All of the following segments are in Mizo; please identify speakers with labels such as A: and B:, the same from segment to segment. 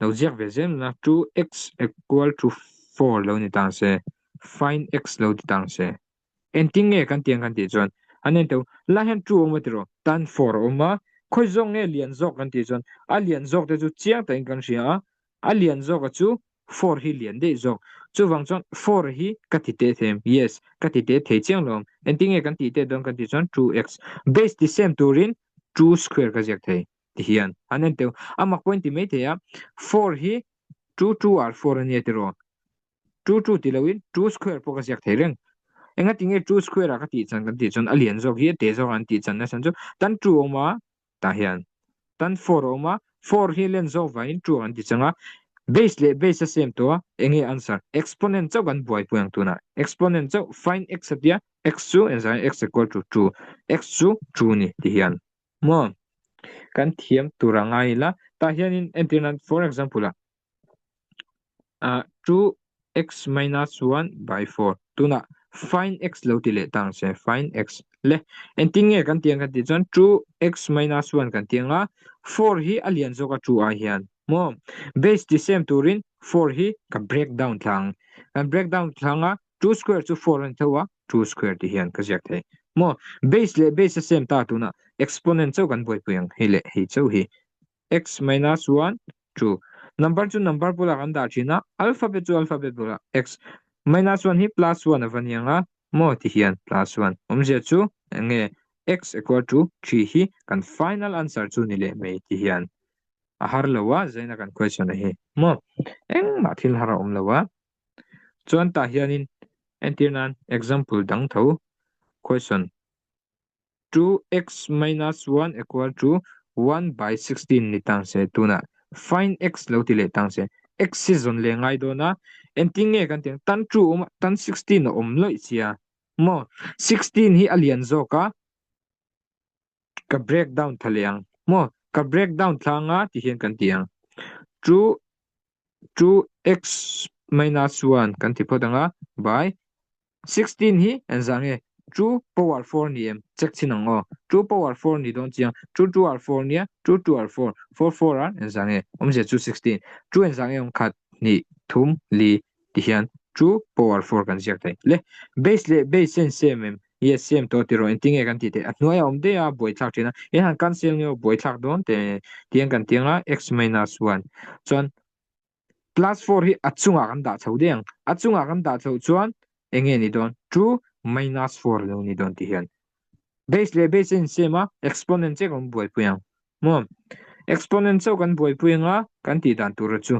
A: Lo ziak ve zel la, 2x equal to 4 lo ni tang se, find x lo ti tang se. Engtin nge kan ti ang kan tih chuan, an en tawh lai hian 2 a awm atirh aw, tan 4 a awm a, khawi zawk nge lian zawk kan tih chuan, a lian zawk te chu chiang takin kan hria a, A lian zawka chu four hi lian daih zawk. Chuvang chuan four hi ka ti teh thei. Yes, ka ti teh thei chiang lo. Engtin nge kan tih teh dawn kan tih chuan two x. Base ti sem turin two square ka ziak thei ti hian an en teuh. Amah pawhin ti mai thei a, four hi two two ah four a nia tiraw. Two two ti loin two square pawh ka ziak thei reng. Engatinge two square a ka tih chan kan tih chuan a lian zawk hi a teh zawk ang an tih chan nasa chu tan two a awm a, tah hian tan four a awm a, four hi len zawk vangin two kan ti chang a, base leh base a same tawh a, eng nge answer? Exponent chauh kan buai pawh ang tunah exponent chauh find x a tia, x chu engzah x equal to two, x chu two ni tih hi an maw? Kan thiam tur a ngai ila, tah hianin entirna for example-ah ah chu x minus one by four tunah find x lo ti leh ta ang che find x le engtin nge kan ti ang kan tih chuan two x minus one kan ti anga four hi a lian zawk a two ah hian maw base ti sem turin four hi ka break down thla ang kan break down thla anga two square chu four a ni tho a two square tih hian ka ziak thei maw base leh base a sem ta tunah exponent chauh kan buaipui ang hei leh hei chauh hi X minus one, two. Number chu number bulah kan dah thin a, alphabet chu alphabet bulah X minus one hi plus one a va ni ang a, maw tihian plus one awmzia chu enge X equal to three hi kan final answer chu ni leh mai tihian a har lo a zaina kan question a hi maw engmah thil har a awm lo a chuan tah hianin entir nan example dang tho question Two x minus one equal to one by sixteen ni tang se tunah find x lo ti leh tang se. X hi zawn leh ngai dawn a, engtin nge kan tih ang tan two a awm a, tan sixteen a awm loih si a, maw? Sixteen hi a lian zawk a, ka break down thla leh ang, maw? Ka break down thla ang a tih hian kan ti ang. Two Chu x minus one kan ti phawt ang a, by sixteen hi an zah nge? Two power four ni em? Check chhin ang aw. Two power four ni dawn chiang. Two two are four nia, two two are four. Four four ah an zah nge? Awmzia chu sixteen. Two an zah nge awm? Khat, hnih, thum, li, ti hian two power four kan ziak thei. Le, base leh base-a an same em? I asiam tawh tiraw engti nge kan tih theih? A hnuaia awm daih a buai thlak thin a, he han cancel nge aw buai thlak dawn teh e tiang kan tiang a x minus one chuan plus four hi a chungah kan dah chho daih ang, a chungah kan dah chhoh chuan eng nge ni dawn? Chu minus four lo ni dawn tih hian base leh base a insem a exponent che kan buai pui ang maw? Exponent chauh kan buai pui anga kan tih dan tura chu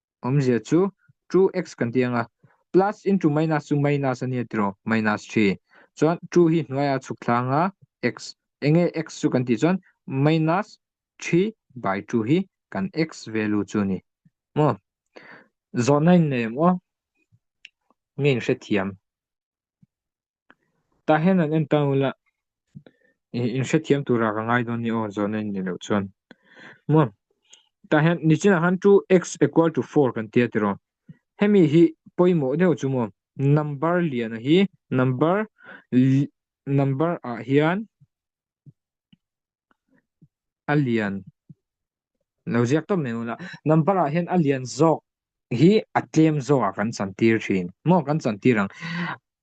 A: Awmzia chu two x kan tih anga plus into minus chu minus ania tiraw, minus three. Chuan two hi hnuaia chhuk thla anga x. Enge x chu kan tih chuan minus three by two hi kan x value chu ani maw. Zawhna in nei maw? Nge in hrethiam? Tah hian an en tan ula. I in hrethiam tura ka ngai dawn ni aw zawna in ni loh chuan. Maw? Tah hian nichinah khan chu x equal to four kan tia ti rawh. Hemi hi pawimawh deuh chu maw? Number liana hi number number ah hian a lian lo ziak tawp mai hun a hnam par ah hian a lian zawk hi a tlem zawk ah kan chan tir thin maw kan chan tir ang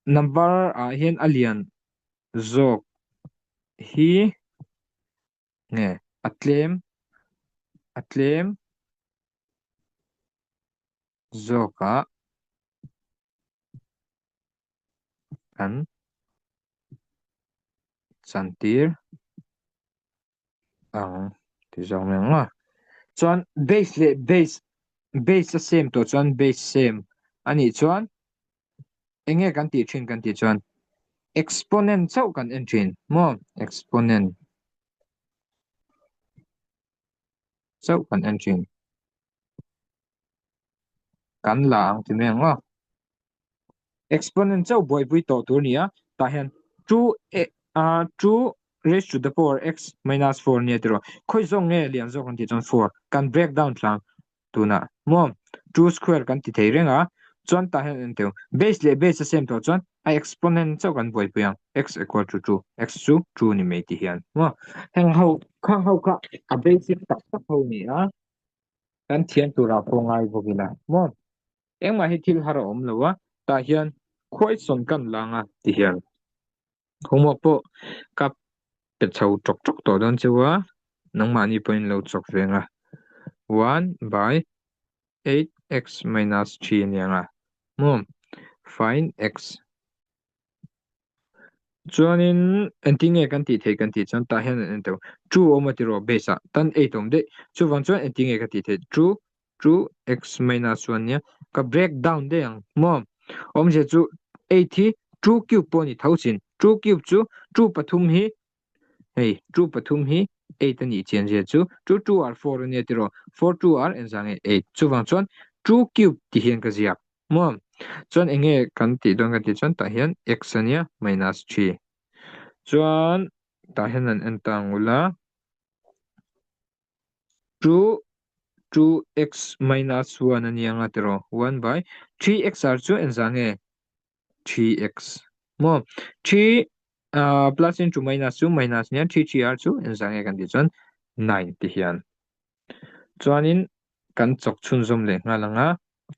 A: hnam par ah hian a lian zawk hi nge a tlem a tlem zawkah kan chantir ang tih zawk mai ang a. Chuan base leh base base a same tawh chuan base same a nih chuan enge kan tih thin kan tih chuan exponent chauh kan en thin maw exponent chauh kan en thin. kan la ang ti mai ang maw exponent chauh buaipui tawh tur nia tah hian two a a two raised to the power x minus four nia tiro khawi zawk nge lian zawk ang tih chuan four kan break down tlang tuna maw two square kan ti thei reng a chuan tah hian en teu base leh base a sem tawh chuan a exponent chauh kan buaipui ang x equal to two x chu two ni mai tih hian maw heng ho kha ho kha a basic tak tak ho nia kan thian turah pawh ngai bawk ila maw? Engmah hi thil har a awm lo a, tah hian khuaisawn kan la ang a ti hial. Homework pawh ka pe chho ṭawk ṭawk tawh dawn chu a, nangmahni pawhin in lo chawk ve ang a, one by eight x minus three a ni ang a maw? Find x chuanin engtin nge kan tih theih kan tih chuan tah hian an en teuh true awm atiraw base ah tan eight awm daih chuvang chuan engtin nge ka tih theih true true x minus one nia ka break down daih ang maw awmzia chu eight hi true cube pawh a ni tho chin true cube chu true pathum hi Hei, two pathum hi eight a nih chian zel chu, two two ar four a nia tiraw, four two ar enzah nge eight? Chuvang chuan two cube tih hian ka ziak maw? Chuan enge kan tih dawn ka tih chuan tah hian x a nia minus three. Chuan tah hian an en ta ngul a, two two x minus one a nia nga tiraw, one by three x ar chu enzah nge three x maw three ah plus into minus chu minus nen three three ah chu enzah nge kan tih chuan nine tih hian chuanin kan chawk chhunzawm leh nghal ang a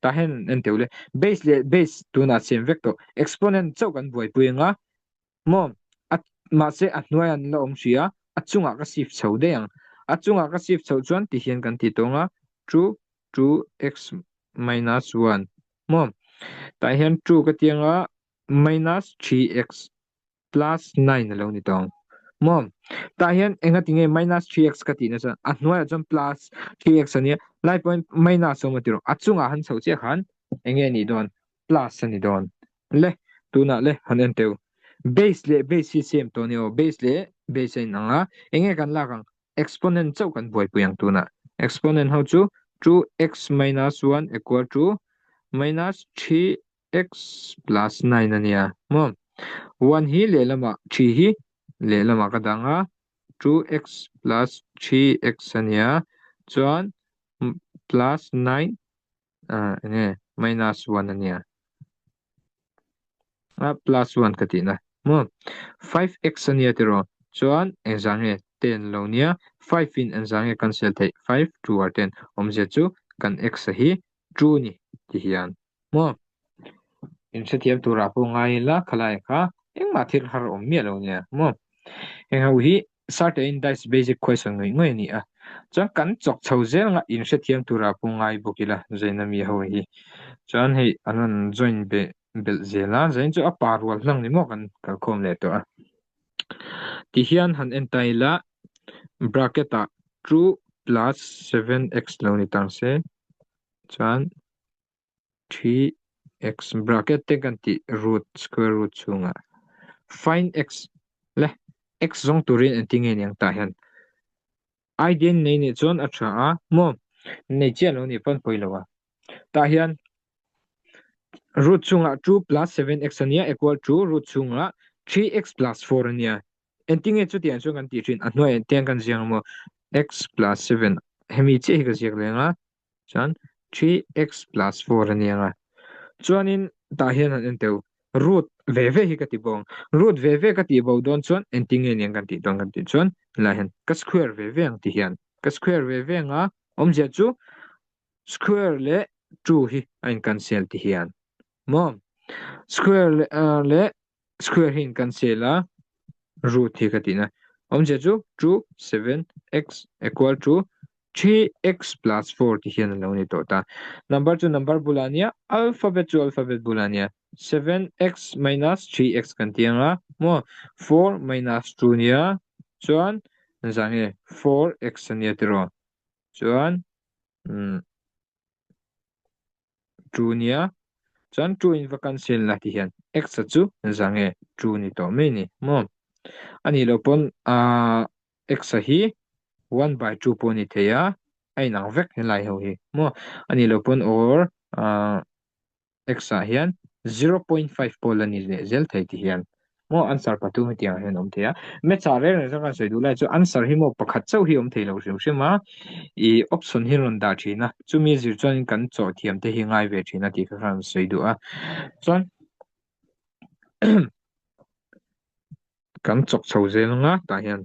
A: tah hian en deuh le base leh base tunah siam vek tawh exponent chauh kan buaipui ang a Maw? A, mahse, a hnuaiah an la awm hrih a, a chungah ka sif chho daih ang. A chungah ka sif chhoh chuan ti hian kan ti tawnga, two, two x minus one. Maw? Tah hian two ka ti anga, minus three x plus nine a lo ni ta ang. Maw? Tah hian enga ti nge minus three x ka tih na chuan a hnuaiah chuan plus three x a nia, lai pawhin minus a awm a ti rawh. A chungah han chho chiah khan enge a nih dawn? plus a ni dawn le tunah le han en teu base leh base hi same tawh ni aw base leh base a inang a eng nge kan lak ang exponent chauh kan buaipui ang tunah exponent ho chu two x minus one equal to minus three x plus nine a nia maw one hi lehlamah three hi lehlamah ka dang a two x plus three x a nia chuan plus nine A enge minus one a nia. A plus one ka tihna maw five x a nia tiraw chuan engzah nge ten lo nia five in engzah nge cancel theih five two ah ten awm zia chu kan x a hi two ni ti hian maw inhrethiam turah pawh ngai ila khalai kha engmah thil har awm miah lo nia maw heng ho hi Sartein Dice Basic Question ngawih ngawih a ni a, chuan kan chawk chho zel ngah inhrethiam tura pawh ngai bawk ila zaina mi ho hi chuan hei an rawn join beh belh zel a, zain chu a pa rual hlang ni maw kan kalkhawm leh tawh a. Tihian han entai ila bracket ah two plus seven x lo ni tang se chuan. three x bracket te kan tih root square root chhunga find x le x zawng turin enti nge niang ta hian i din nei ni chuan a tha a maw nei chian lo ni pawn pawi lo a ta hian root chunga two plus seven x ania equal to root chunga three x plus four ania enti nge chu tiang chu kan ti thin a hnuai tiang kan ziang maw x plus seven hemi che hi ka ziak lenga Chuan three x plus four a nia nga. Chuanin tah hian han en teu root ve ve hi ka ti bawk ang. Root ve ve ka tih bo dawn chuan engtin nge nia kan tih dawn kan tih chuan helai hian ka square ve ve ang ti hian ka square ve ve anga awmzia chu square leh two hi a in cancel ti hian maw square leh Square hi in cancel a, root hi ka tihna awmzia chu chu seven x equal to three x plus four tih hian alo ni tawh ta. Number chu number bulah ania, alphabet chu alphabet bulah ania, seven x minus three x kan ti anga maw, four minus two nia chuan an zah nge four x ania tiraw chuan umm. True nia. Chuan true in va cancel la tih hian x a chu za nge true ni tawh mai ni maw? A nih loh pawn aah x a hi one by two pawh a ni thei a, a inang vek helai ho hi maw? A nih loh pawn or aah x ah hian zero point five pawh la ni leh zel thei tih hian Maw answer pa tu hetiang hian awm thei a, maths ah reng reng zat rawn sawi duh lai chu answer hi maw pakhat chauh hi awm thei lo hrim hrim a, ih option hi rawn dah thin a, chumi zir chuan kan chaw thiam te hi ngai ve thin a tih kha khan rawn sawi duh a, chuan kan chawk chho zel nga tah hian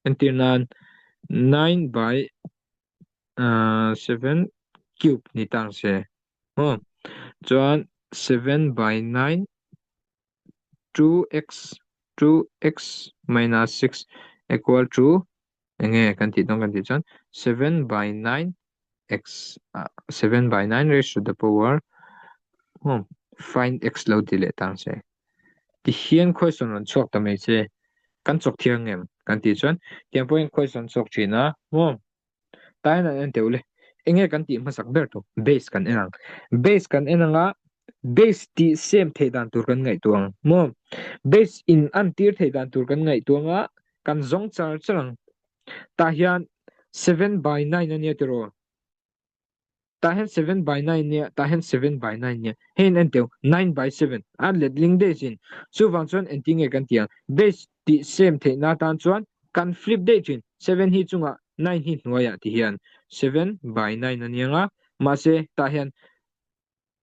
A: entir nan nine by aah seven cube ni tang se maw, chuan seven by nine 2x, 2x minus 6 equal to eng nge kan tih dawn kan tih chuan 7 by 9 x, 7 by 9 raised to the power hmm find x lo ti leh tang se. Tihian question rawn chhuak ta mai che kan chawk thiang em kan tih chuan tiang pawhin question chhuak thin a hmm Taian an en teuh le. Enge kan tih hmasak ber tawh base kan en ang. Base kan en anga base tih sem theih dan tur kan ngaihtuah ang maw. Base in an tir theih dan tur kan ngaihtuah anga kan zawng char char ang. Tah hian seven by nine a nia tiraw. Tah hian seven by nine nia, tah hian seven by nine nia. Heiin a ni teu, nine by seven. A letling daih chin. Chuvang chuan engtin nge kan tia? Base tih same theihna atan chuan kan flip daih chin. Seven hi chunga, nine hi hnuaia ti hian seven by nine a niang a. Mahse, tah hian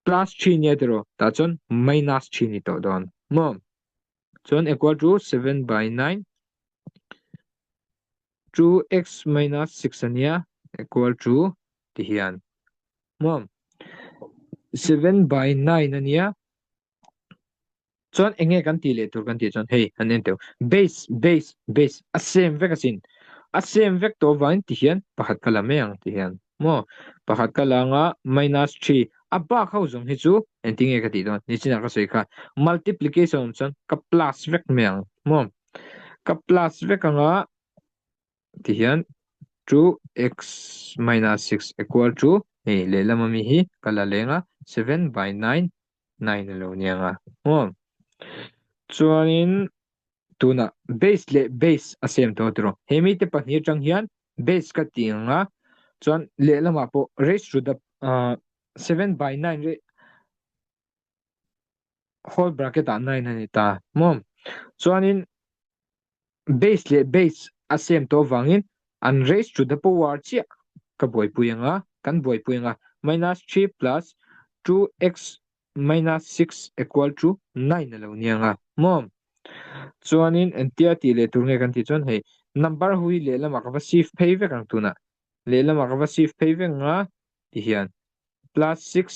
A: plus three nia tiraw, tah chuan minus three ni tawh dawn. Maw? Chuan equal to seven by nine chu x minus six ania equal to ti hian muam seven by nine ania chuan enge kan ti leh tur kan ti chuan hei an en teuh base base base a same vek asin a same vek tawh vang ti hian pakhat ka la mai ang ti hian maw? Pakhat ka la anga minus three a bak ho zawng hi chu engti nge ka tih dawn? Nichinah ka sawi kha multiplication awm chuan ka plus vek mai ang maw? Ka plus vek anga tihian two x minus six equal to hei lehlam ami hi ka la leng a seven by nine nine a lo ni ang a maw? Chuanin Tunah base leh base a sem tawh tiraw? He mite pahnih atang hian base ka tih ang a, chuan lehlamah pawh raised to the seven by nine leh whole bracket ah nine a ni ta maw? Chuanin base leh base a sem tawh avangin an raised to the power chiah ka buaipui ang a, kan buaipui ang a, minus three plus two x Minus six equal to nine a lo niang a maw? Chuanin entia tih leh tur nge kan tih chuan hei number ho hi lehlamah ka va shift phei vek ang tunah lehlamah ka va shift phei vek nga tih hian plus six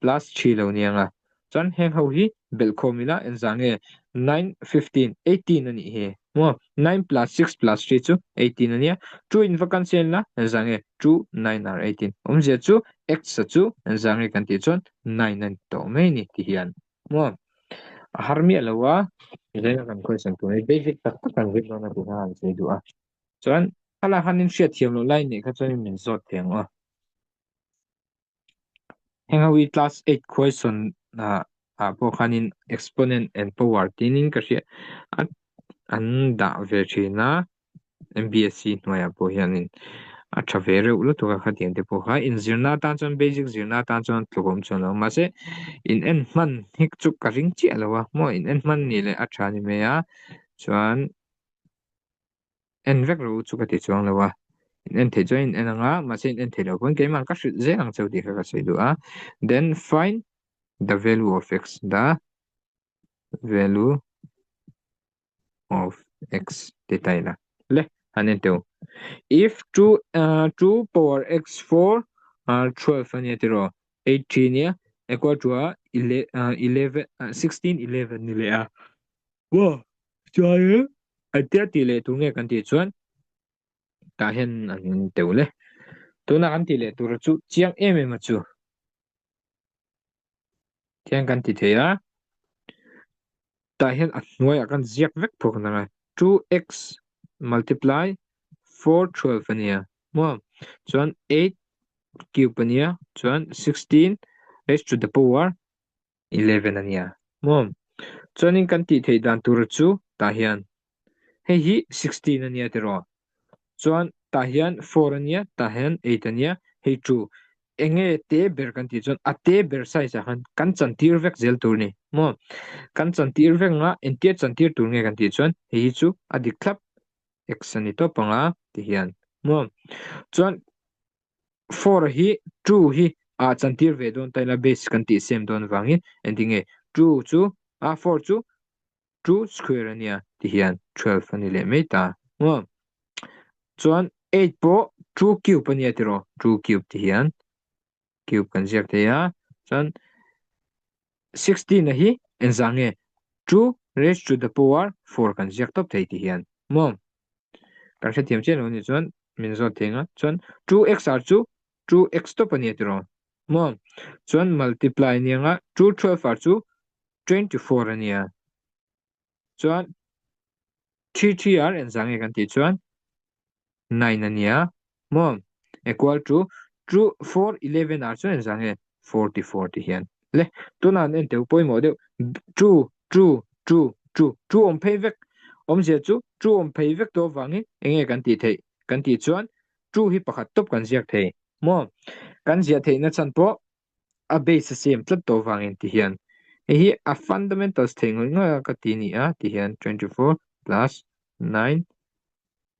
A: plus three lo niang a. Chuan heng ho hi belhkhawm ila enzah nge nine fifteen eighteen a nih hi. Maw? Nine plus six plus three chu eighteen a nia. Two in va kan siam ila zah nge two nine are eighteen. Awmzia chu x-a chu zah nge kan tih chuan nine a ni tawh mai ni tih hian. Maw? A har miah lo a. Zeng a kan question tur hi basic tak tak kan zir dawn a tih kha han sawi duh a. Chuan a la han in hriat thiam loh lai neih kha chuan in min zawt thei ang aw. Heng ho hi class eight question ah ah pawh khanin exponent and power tinin ka hria a an dah ve thin a mbsc hnuaiah pawh hianin a tha ve reuh lutuk a khatiang te pawh kha inzirna atan chuan basic zirna atan chuan tlawhawm chhuan lo mahse inhen hman hi chu ka ring chiah lo a maw inhen hman ni leh a tha ni mai a chuan en vek lo chu ka ti chuang lo a in en thei chuan in en ang a mahse in en thei lo pawn keimah ka hrilh zel ang chau tih kha ka sawi duh a then find the value of x the value of x tih ta ila le han en teuh if 2 uh, 2 power x 4 uh, 12 ania tiro 8 3 nia equal to a 11 uh, 16 11 ni le a Maw chuan in. Ai tia tih leh tur nge kan tih chuan tah hian an teu le. Tuna kan tih leh tur chu chiang em em a chu. Tiang kan ti thei a. Tah hian a hnuaiah kan ziak vek phawk a nang a. 2x multiply 4 12 a nia maw chuan 8 cube a nia chuan 16 raised to the power eleven a nia maw? Chuanin kan tih theih dan tura chu tah hian hei hi sixteen a nia tiraw? Chuan tah hian four a nia, tah hian eight a nia, hei two enge te ber kan tih chuan a te ber size-ah khan kan chantir vek zel tur ni maw? Kan chantir vek anga entir chantir tur nge kan tih chuan hei hi chu a dik thlap x a ni tawp ang a tihian maw? Chuan for hi true hi a chan tir ve dawn ta ila base kan tih sem dawn avangin ending nge true chu a for chu two square a nia ti hian twelve a ni leh mai ta nge awm chuan eight pawh two cube a nia tiraw two cube ti hian cube kan ziak thei a chuan Sixteen a hi engzah nge? Two raised to the power four kan ziak tawp thei tih hian maw? Kan hrethiam chiah lo nih chuan min zawt thei nga. Chuan two x ar chu two x tawp a ni ti rawh maw? Chuan multiply anianga two twelve ar chu twenty four a nia. chuan three three ar en zah nge kan tih chuan nine a nia maw equal to two four eleven ar chu en zah nge forty four tih hian le tunah an en teuh pawimawh deuh two two two two two awm phei vek awmzia chu two awm phei vek tawh avangin eng nge kan tih theih kan tih chuan two hi pakhat tawp kan ziak thei maw kan ziah theihna chhan pawh a base a siam tlat tawh vang in ti hian hei hi a fundamentals thei ngawih ngawih a ka ti a ni a ti hian twenty four plus nine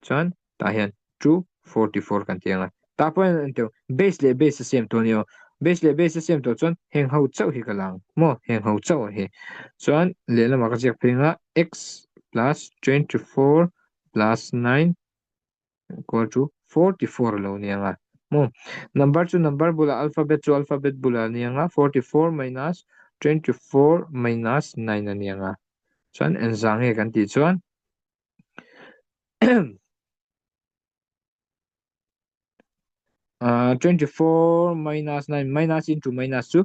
A: chuan tah hian two forty four kan ti ang a tah pawh hian ento base leh base a siam tawh a ni aw base leh base a siam tawh chuan heng ho chauh hi ka la ang maw heng ho chauh a hi chuan lehlam ah ka ziak phei anga x plus twenty four plus nine Kual chu forty four a lo niang a mu. Number chu number bulah alphabet chu alphabet bulah a niang a, forty four minus twenty four minus nine a niang a. Chuan enzah nge kan tih chuan ahh twenty four minus nine minus into minus chu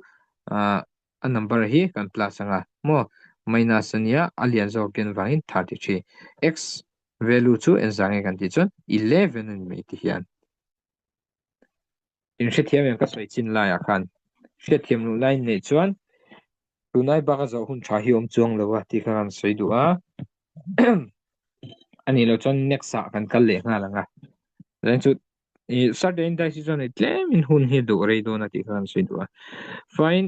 A: ahh a number hi kan plus anga maw minus ania a lian zawkin vangin thirty three x Value chu enzah nge kan tih chuan eleven a ni mai tih hian in hrethiam em ka sawi chin lai ah khan hrethiam loh lai nei chuan tunai baka zawh hun tha hi awm chuang lo a tih kha kan sawi duh a ani lo chuan next ah kan kal leh nghal ang a then chu i certain dice chuan i tlem in hun hi duh rei dawn a tih kha kan sawi duh a fine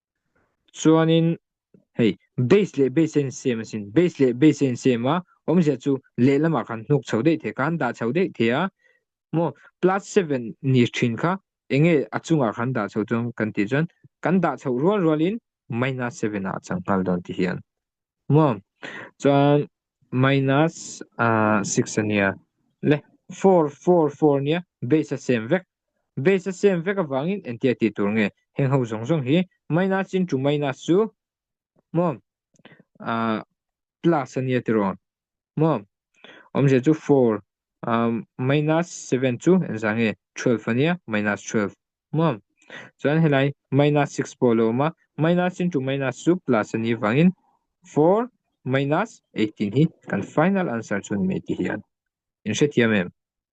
A: chuanin hei base leh base a insem asin base leh base a insem a awmzia chu lehlamah kan hnuk chho daih theih kan dah chho daih theih a maw plus seven ni thin kha enge a chungah kan dah chho chuan kan tih chuan kan dah chho rual rualin minus seven ah a chang nghal dawn tih hian maw chuan minus six ania le four four four nia base a sem vek Base a siam vek avangin entia ti tur nge heng ho zawng zawng hi minus into minus chu maw ah plus a nia tiraw maw awmzia chu four ah minus seven chu en zah nge twelve a nia minus twelve maw chuan helai minus six pawh a lo awm a minus into minus chu plus a ni avangin four minus eighteen hi kan final answer chu a ni mai tih hian in hrethiam em.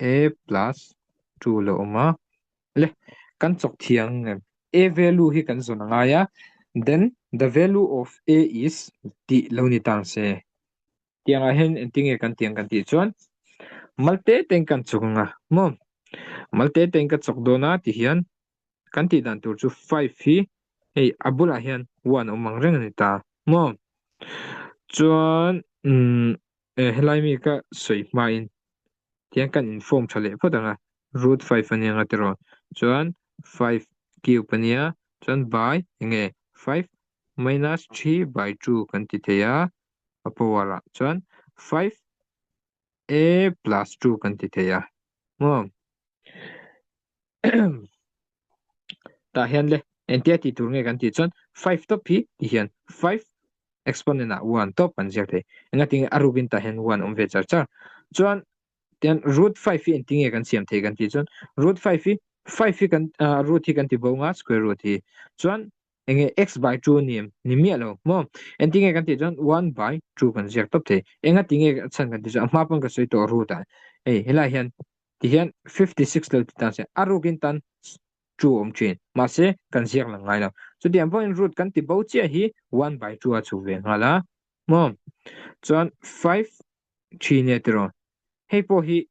A: a plus two a lo awm a le kan chawk thiang em a value hi kan zawn a ngai a then the value of a is tih lo ni tan se tiang ah hian engtin nge kan ti ang kan tih chuan malte ten kan chawk anga maw malte ten ka chawk dawn a tih hian kan tih dan tur chu five hi hei a bulah hian one a awm ang reng a ni ta maw chuan umm. Eh, helai mi ka sawi hma in tiang kan inform tha leh phawt ang a, root five anianga tirawn chuan five cube ania chuan by enge five minus three by two kan ti thei a, a power ah chuan five a plus two kan ti thei a, maw? tah hian le engtia tih tur nge kan tih chuan five tawp hi tih hian five exponent ah one tawp kan ziak thei engatin a ruk in tah hian one a awm ve char char chuan tian root five hi engtin nge kan siam thei kan tih chuan root five hi five hi kan ah, root hi kan ti bo nga square root hi chuan enge x by two ni em ni miah lo mo engtin nge kan tih chuan one by two kan ziak tawp thei engatin nge chhan kan tih chu a hma pawn ka sawi tawh root ah ei helai hian Tihian fifty six lo ti ta se, a rukin tan two a awm thin. Mahse, kan ziak lang ngai lo. Chuti ang pawhin root kan ti bo chiah hi one by two a chhuk ve nghal a, maw? Chuan five three nia tih rawh. Hei pawh hi,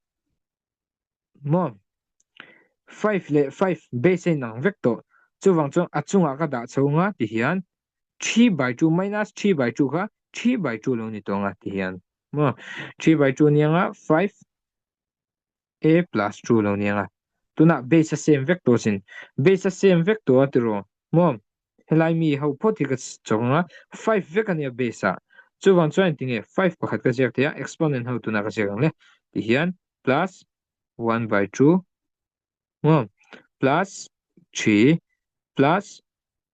A: maw, five leh five base a inang vek tawh. Chuvang chuan a chungah ka dah chho nga tihian three by two minus three by two kha three by two lo ni tawh nga tihian, maw? Three by two nia nga five Ee plus two lo nia nga. Tunah base a same vek tawh sin. Base a same vek tawh a tiraw. Maw? Helai mi ho phawt hi ka chawk anga five vek ania base ah. Chuvang chuan entinge five pakhat ka ziak thei a exponent ho tunah ka ziak ang le tihian plus one by two maw plus three plus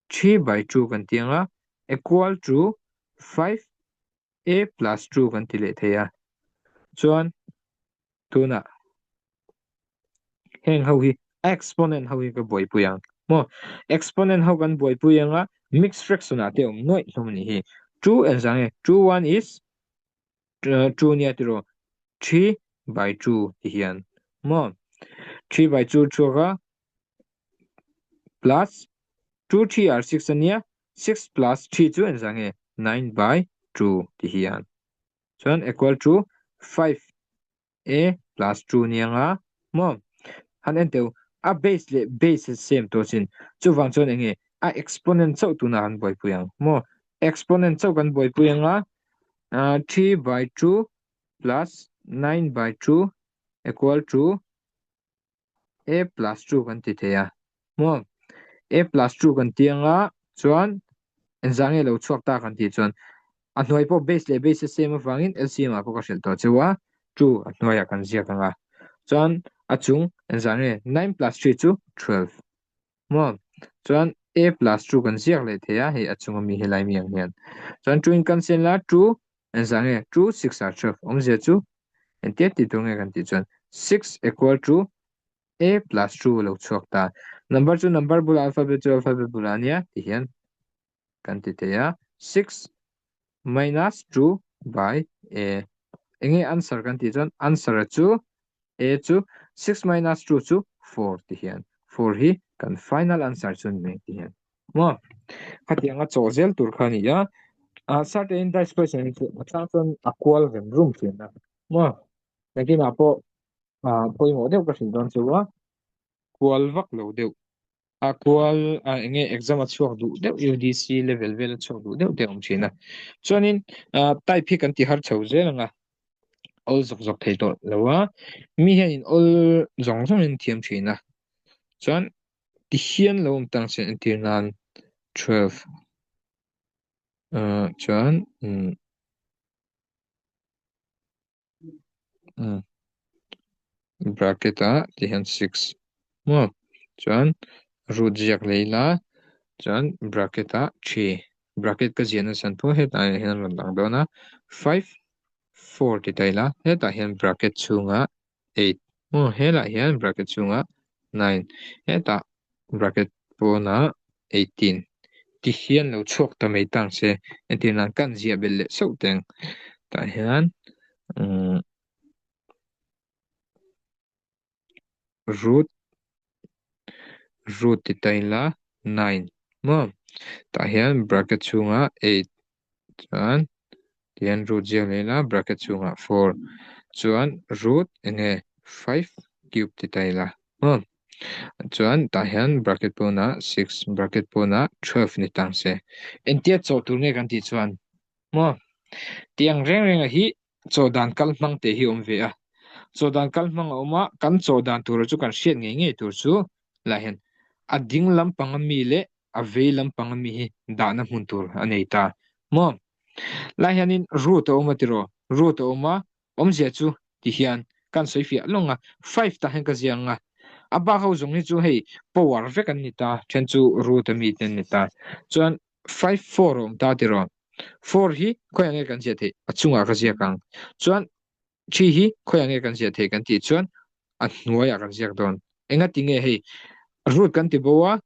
A: three by two kan ti anga equal to five e plus two kan ti leh thei a chuan tunah heng ho hi exponent ho hi ka buaipui ang maw exponent ho kan buaipui ang a mixed fraction ah te awm nuaih hlawm a nih hi two en zang e two one is two nia tiro three by two ti hian maw three by two chhuak a plus two three are six ania six plus three chu en zah nge nine by two tih hi a, chuan equal to five a plus two a nia nga maw han en teuh a base leh base a same tawh chin chuvang chuan enge a exponent chauh tunah han buaipui ang maw exponent chauh kan buaipui anga ah three by two plus nine by two equal to a plus two kan ti thei a maw a plus two kan ti anga chuan engzah nge lo chhuak ta kan tih chuan a hnuai pawh base leh base a sem avangin lcm ah pawh ka hrilh tawh chauh a two a hnuaiah kan ziak anga chuan a chung engzah nge nine plus three chu twelve. Maw? Chuan A plus two kan ziak leh thei a, hei a chunga mi hi Laimi ang hian. Chuan two-in kan siam la, two engzah nge? Two six ah twelve awmzia chu engtiat tih tur nge kan tih chuan six equal to A plus two a lo chhuak ta. Number chu number bulah alphabet chu alphabet bulah nia tih hian kan ti thei a, six minus two by a. Eng nge answer kan tih chuan answer a chu a chu six minus two chu four ti hian four hi kan final answer chu ni mai ti hian a awm a. Khatiang a chaw zel tur kha a ni a, a certain in dice question in chu a chang chuan a kual rem rum fian a awm a, engtinah pawh pawimawh deuh ka hrilh dawn chu a kual vak lo deuh A kual a enge exam a chhuak duh deuh UDC level vel a chhuak duh deuh te awm thin a chuanin type hi kan ti har chho zel anga awl zawk zawk thei tawh lo a mi hian in awl zawng zawng in thiam thin a chuan ti hian lo awm tang sen entir nan 12 a chuan umm bracket ah tih hian six maw chuan root ziak leh ila chuan bracket ah three bracket ka ziah nasa thup a hetah hian a rawn lang dawn a five four tih ta ila hetah hian bracket chhungah eight. Hmur helah hian bracket chhungah nine hetah bracket pawnah eighteen tih hian lo chhuak ta mai tang se. Engtin a kan ziah belh leh sauh teng tah hian umm root root tih ta ila nine maw tah hian bracket chhunga eight chuan tihian root ziak leh ila bracket chhunga four chuan root enge five cube tih ta ila maw chuan tah hian bracket pawnah six bracket pawnah twelve ni tang se entir chawh tur nge kan tih chuan maw tiang reng renga hi chaw dan kal hmang te hi a awm ve a chaw dan kal hmang a awm a kan chaw dan tur chu kan hriat ngei ngei tur chu lah hian a ding lampanga mi leh a vei lampanga mi hi dahna hmun tur a nei ta maw lai hianin root a awm a tiraw root a awm a awmzia chu ti hian kan sawi fiah lawng a five tah hian ka ziah ang a a bak ho zawng hi chu hei power vek an ni ta then chu root ami te an ni ta chuan Five four awm ta ti rawh. Four hi khawiah nge kan ziah theih? A chungah ka ziak ang. Chuan three hi khawiah nge kan ziah theih kan tih chuan a hnuaiah kan ziak dawn. Enga ti nge hei? Root kan ti bo a,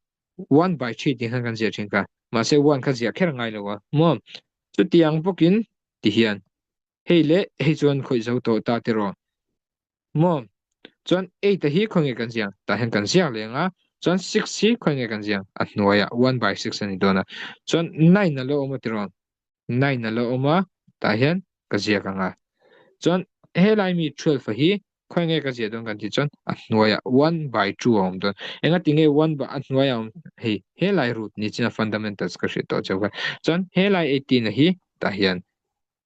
A: one by three tih khan kan ziah thin kha. Mahse one kha ziah kher ngai lo a maw? Chutiang bawkin ti hian hei leh hei chuan khawih zo tawh ta ti rawh. Maw? Chuan eight a hi khawi nge kan ziak? Tah hian kan ziak leng a, chuan six hi khawi nge kan ziak? A hnuaia one by six a ni dawn a. Chuan nine a lo awm a ti rawn? Nine a lo awm a, tah hian ka ziak ang a. Chuan helai mi twelve a hi khawi nge ka ziah dawn kan tih chuan a hnuaia one by two a awm dawn. Enga ti nge one by a hnuaia awm hei helai root nichin a fundamentals ka hriat tawh che kha. Chuan helai eighteen a hi tah hian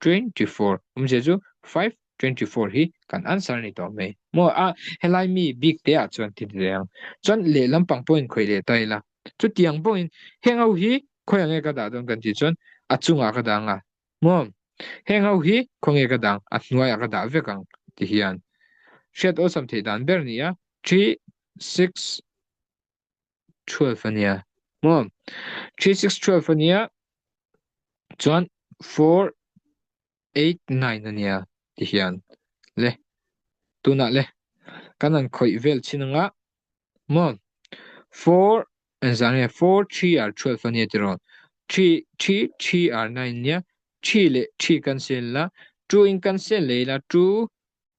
A: twenty four awmzia chu five twenty four hi kan answer a ni tawh mai. Maw a, helai mi bik te ah chuan thil ve ang. Chuan leh lampang pawh in khawih leh ta ila. Chutiang pawh in heng ho hi khawi ange ka dah dawn kan tih chuan a chung ah ka dah ang a. Maw heng ho hi khaw nge ka dah ang a hnuai ah ka dah vek ang ti hian hriat awlsam theih dan ber nia three six twelve ania mo three six twelve ania chuan four eight nine ania ti hian le tuna le kan an khawih vel chin anga mo four an zan nge four three r twelve ania ti ron three three three r nine nia three le three kan sel la two in kan sel leila two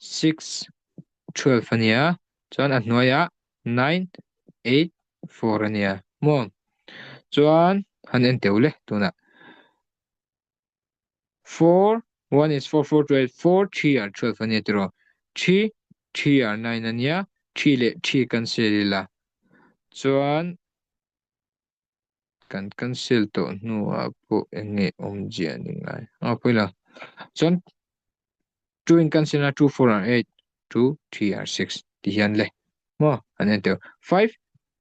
A: Six, twelve a nia, chuan a hnuaiah nine, eight, four a nia maw? Chuan han en teu le tunah four, one is four, four to eight, four three are twelve a nia tiraw? Three, three are nine a nia, three leh three kan sial ila chuan Kan cancel tawh hnuah pawh enge awm zia ni ngai. Aw pawi lo. Chuan two in cancel na two four and eight two three and six tih hian le maw an en teuh. Five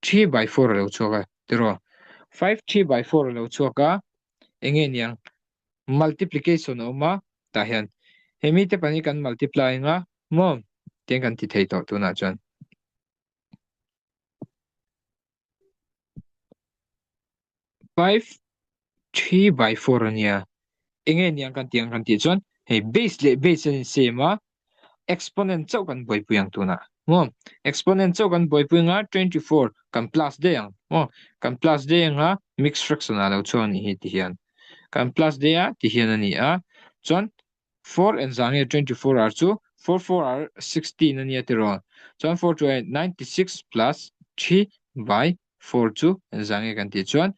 A: three by four a lo chhuak a tiraw. Five three by four a lo chhuak a enge niang multiplication a awm a tah hian he mite pahnih kan multiply ang a maw tiang kan ti thei tawh tunah chuan five three by four ania enge ni ang kan ti ang kan ti chuan he base le base an sem a exponent chauh kan buaipui ang tuna mo exponent chauh kan buaipui anga twenty four kan plus dei ang mo kan plus dei anga mix fraction a lo chhuak anih hi ti hian kan plus dei a ti hian ani a chuan Four and zah nge twenty four hour chu four four hour sixteen a nia tirawn chuan four two eight ninety six plus three by four chu and zah nge kan tih chuan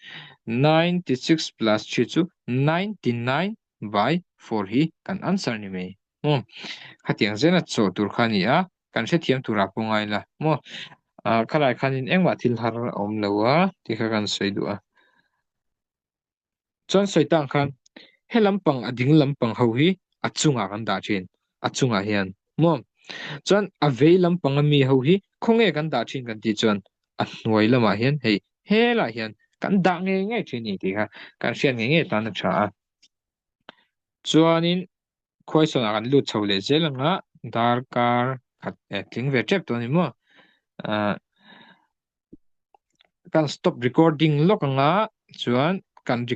A: ninety six plus three chu ninety nine by four hi kan answer ni mai maw khatiang zela chawh tur kha nia kan hrethiam turah pawh ngai la maw khalai khanin engmah thil har a awm lo a tih kha kan sawi duh a. Chuan Sawitang khan he lampang a ding lampang ho hi a chungah kan dah thin, a chungah hian maw? Chuan a vei lampang a mi ho hi khawnge kan dah thin kan tih chuan a hnuai lamah hian hei helah hian kan dah ngei ngei thin a ni tih kha kan hriat ngei ngei tan a tha a. Chuanin Khuaisawn ah kan lut chho leh zel ang a, dar kar khat eh tling ve tep tawh a ni maw? Ahh kan stop recording lawk ang a, chuan kan re.